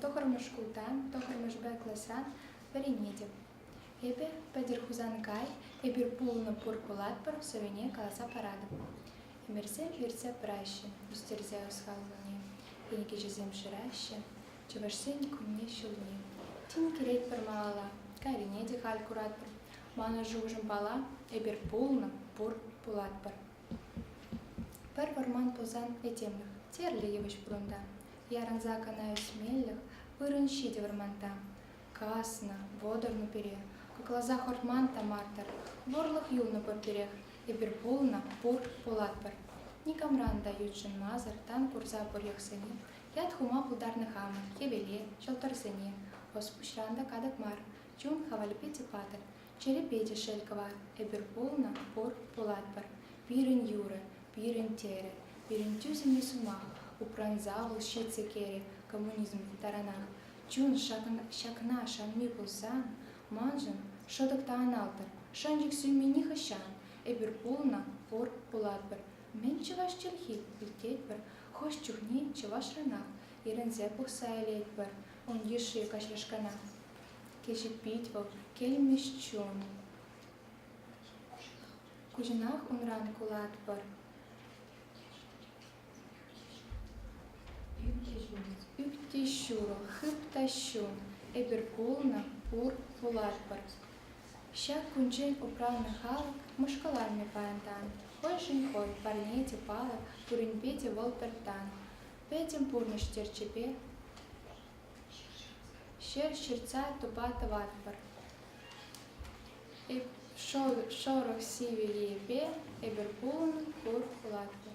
Тӑхӑрмӗш шкулта тӑхӑрмӗшпе класран вӗренетӗп. Эпӗ пӗтӗр Хусанкай, эпир пулнӑ пур пулатпӑр сӑвине каласа паратӑп. Ӗмӗрсе-хӗрсе пыраҫҫӗ, ӳстерсе ӑсхаллани, кӗнекеҫӗсем шыраҫҫӗ, чӑвашсен кунне-ҫулне. Тин килетпӗр малалла, кайрине те халь куратпӑр. Манӑн шухӑшӑм пала, эпир пулнӑ, пур пулатпӑр. Пӗр вӑрман тусан этемлӗх тӗрлӗ йывӑҫ пурӑнта. Ярӑнса кӑна ӳсмеллех вырӑн ҫитӗ вӑрманта. Каснӑ, вӑтӑрнӑ пире, кӑкласах ӑрман та мар-тӑр. Вӑрлӑх юлнӑ пурпӗрех, эпир пулнӑ, пур, пулатпӑр. Никамран та ютшӑнмасӑр тан курса пурлӑхсене, ят хума пултарнӑ хамӑр хӗвеле, ҫӑлтӑрсене. Ӑс-пуҫран та катӑк мар, чун хавалӗпе те патӑр. Чӗрепе те шел кӑва. Эпир пулнӑ, пур, пулатпӑр. Пирӗн юрӑ, пирӗн терӗ, пирӗн тӳсӗмлӗ сӑмах упранса вӑл ҫитсе кӗрӗ коммунизм таранах. Чун ҫакна шанми пулсан, маншӑн шӑтӑк та аналтӑр. Шанчӑк сӳнми нихӑҫан. Эпир пулнӑ, пур, пулатпӑр. Мӗн чӑваш чӗлхи? илтетпӗр. Хӑш чухне чӑвашранах йӗрӗнсе пухса илетпӗр ун йышши каҫашкана. кӗҫӗтпет вӑл килмӗш чун. Куҫӑнах унран кулатпӑр. Ӳт те ҫурӑ, хыт та ҫум, эпир кулнӑ пур пулатпӑр. Ҫак кунччен упраннӑ халӑх мӑшкӑланмӗ паянтан. Хӑйшӗн хӑй, парне те палӑк, пуринпе те вӑл пӗр тан. Пӗтӗм пурнӑҫ терчӗпе Ҫӗр ҫыртса тупа тӑватпӑр. Шорох Севильепе эпир пулӑн пур пулатпӑр.